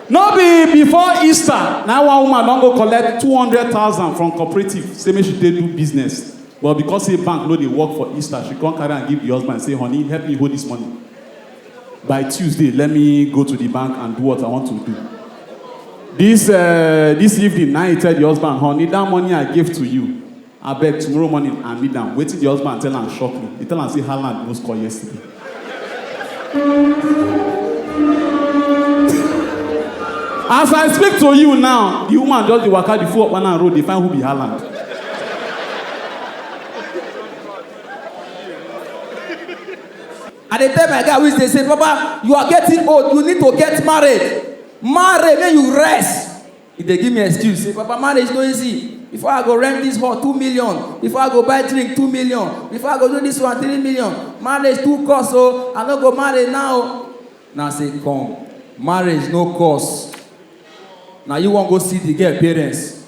no be before easter na one woman don go collect two hundred thousand from cooperative say make she take do business but because say bank no dey work for easter she come carry am give the husband say honey help me hold this money by tuesday let me go to the bank and do what i want to do this uh, this evening na he tell the husband honey that money i gave to you Abeg tomorrow morning I need am, wetin the husband tell am shock me, he tell am say Haaland no score yesterday. As I speak to you now, the woman just dey waka the full Okpana road dey find who be Haaland. I dey tell my guy which dey say, Papa, you are getting old, you need to get married. Marry, make you rest. He dey give me excuse say papa marriage no easy, before I go rent this hall two million, before I go buy drink two million, before I go do this one three million, marriage too cost o, I no go marry now o. Na say come, marriage no cost, na you wan go see the girl parents?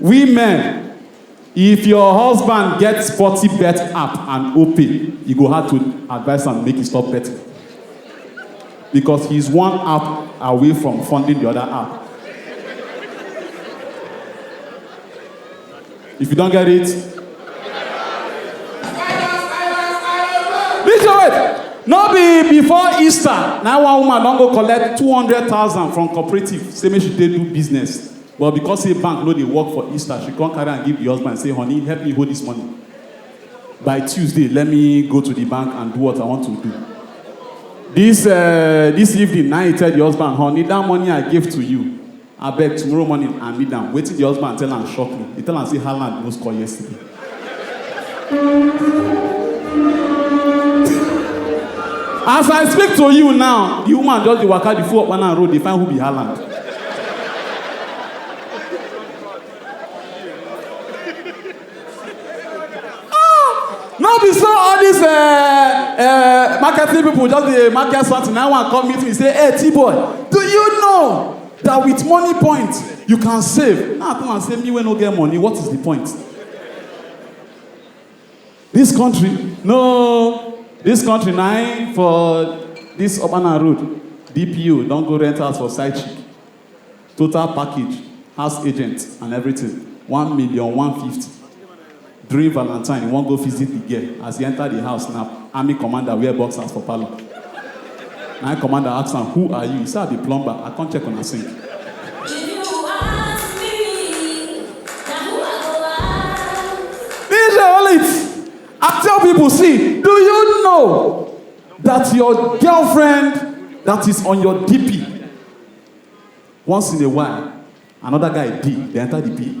Women, If your husband get sporty bet app and Opay, e go hard to advise am make e stop betting because he is one app away from funding the other app. If you don't get it, this your wait. No be before Easter, na one woman don go collect two hundred thousand from cooperative say make she take do business. But because say bank no dey work for Easter, she come carry am give the husband say, honey, help me hold this money. By Tuesday, let me go to the bank and do what I want to do. This uh, this evening, now he tell the husband, honey, that money I gave to you, I beg tomorrow morning I need am. Wetin the husband tell am shock me. He tell am say Haaland no score yesterday. As I speak to you now, the woman just dey waka the full up and road dey find who be Haaland. Ah, no be so all these uh, uh, marketing people just dey market something na one come meet me say hey t-boy do you know that with money point you can save now come and say me wey no get money what is the point this country no this country na im for this urbana road dpo don go rent house for side chick total package house agent and everything one million one fifty During valantine, e wan go visit di girl, as e enter di house na army commander wear boxers for parlour. Na im commander ask am, Who are you? E say, I be plumber, I come check una sink. DJ Olive, I tell people, see, do you know that your girlfriend that is on your DP, once in a while, another guy D, they enter the P.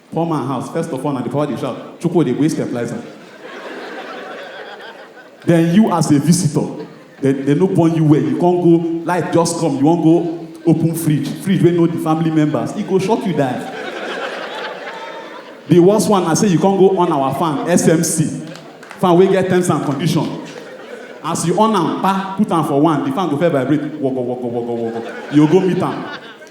Poor man house, first of all, na the power dey shout, Chukwu dey go use fertilizer. Then you as a visitor, they, they no born you well, you can't go, light just come, you won't go open fridge, fridge wey know the family members, e go shock you die. The worst one na say you can't go on our fan, SMC, fan wey get terms and condition. As you on am, pa, put am for one, the fan go first vibrate, wogo, wogo, wogo, wogo, you go meet am.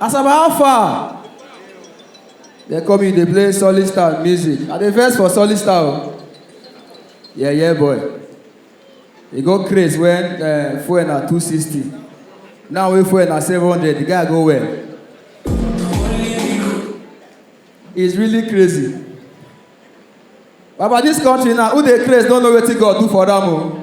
Asaba how far? They come in, they play solid star music. I dey vex for solid star o. Yeah, yeah, boy. E go craze when uh, fuel na 260. Now wey fuel na 700, the guy go well. It's really crazy. Baba, this country now, who dey craze don't know wetin God do for them o.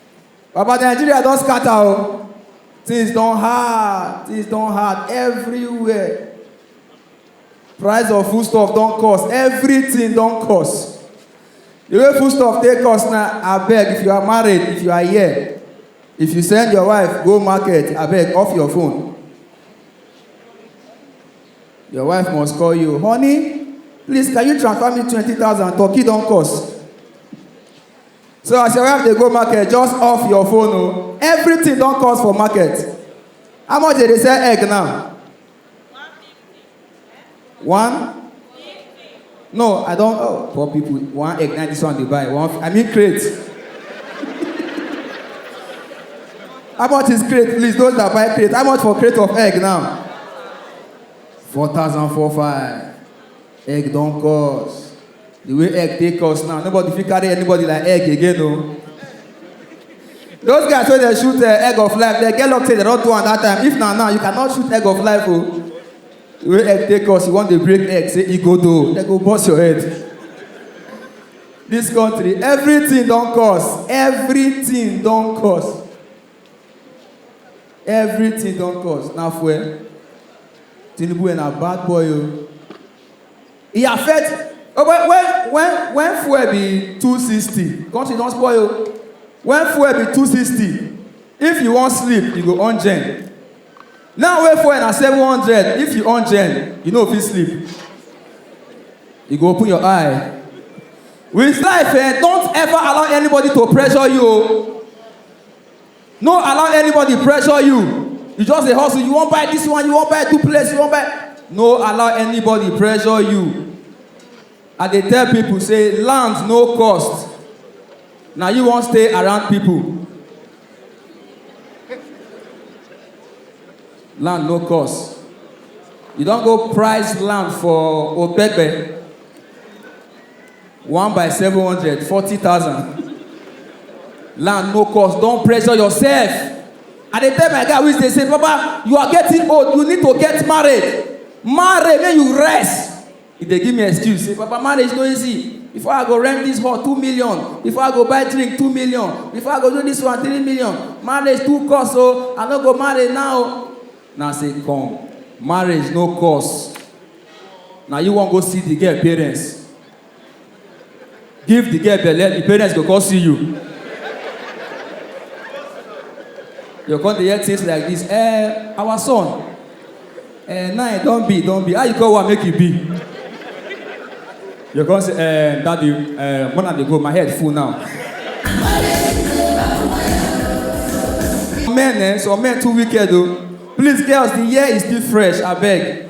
Baba Nigeria don scatter o, things don hard, things don hard everywhere. Price of food stuff don cost, everything don cost. The way food stuff take cost na abeg if you are married, if you are here, if you send your wife go market abeg off your phone. Your wife must call you, honey please can you transfer me twenty thousand turkey don cost. So as your wife dey go market, just off your phone o. Oh. Everything don cost for market. How much dey dey sell egg now? One? No, I don't. Oh, poor people. One egg, now this one they buy. One, I mean crate. How much is crate? Please, those that buy crate. How much for crate of egg now? Four thousand four five. Egg don cost. The way egg take cost now, nobody fit carry anybody like egg again o. Those guys wey dey shoot uh, egg of life, they get luck say they don do am that time. If na now, you cannot shoot egg of life o. The way egg take cost, you wan dey break egg, say e go do, they go burst your head. This country, everything don cost, everything don cost. Everything don cost na fuel. Tinubu eh na bad boy oh. E affect when when when when fuel be two sixty country don spoil oh. When fuel be two sixty if you wan sleep you go on gen. Now wey fuel na seven hundred if you on gen you no fit sleep. You go open your eye. With life eh don't ever allow anybody to pressure you oh. No allow anybody pressure you. You just dey hustle. You wan buy this one, you wan buy two plates, you wan buy. No allow anybody pressure you. I dey tell people say land no cost. Na you wan stay around people. Land no cost. You don go price land for Opepe. One by seven hundred, forty thousand. Land no cost, don pressure yourself. I dey tell my guy wey dey say, Papa, you are getting old, you need to get married. Marry make you rest. He dey give me excuse say, Papa, marriage no easy. Before I go rent this hall, two million. Before I go buy drink, two million. Before I go do this one, three million. Marriage too cost o, I no go marry now. Na say come, marriage no cost. na you wan go see the girl parents give the girl belle the parents go come see you you come dey hear things like this eh our son eh now e don be don be how you go wan make e be you come say eh daddy eh when i dey go my head full now. men eh some men too wicked o please girls the year is still fresh abeg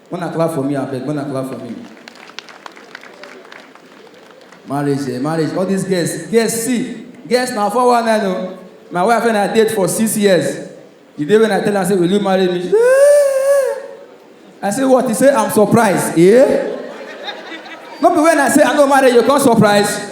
Una clap for me abeg, una clap for me. Marriage, eh, marriage. All these girls, girls see, girls na four one nine o. My wife and I date for six years. The day when I tell am say will you marry me? She say, "Eh." I say what? He say I'm surprised. Eh? No be when I say I no marry you, come surprise.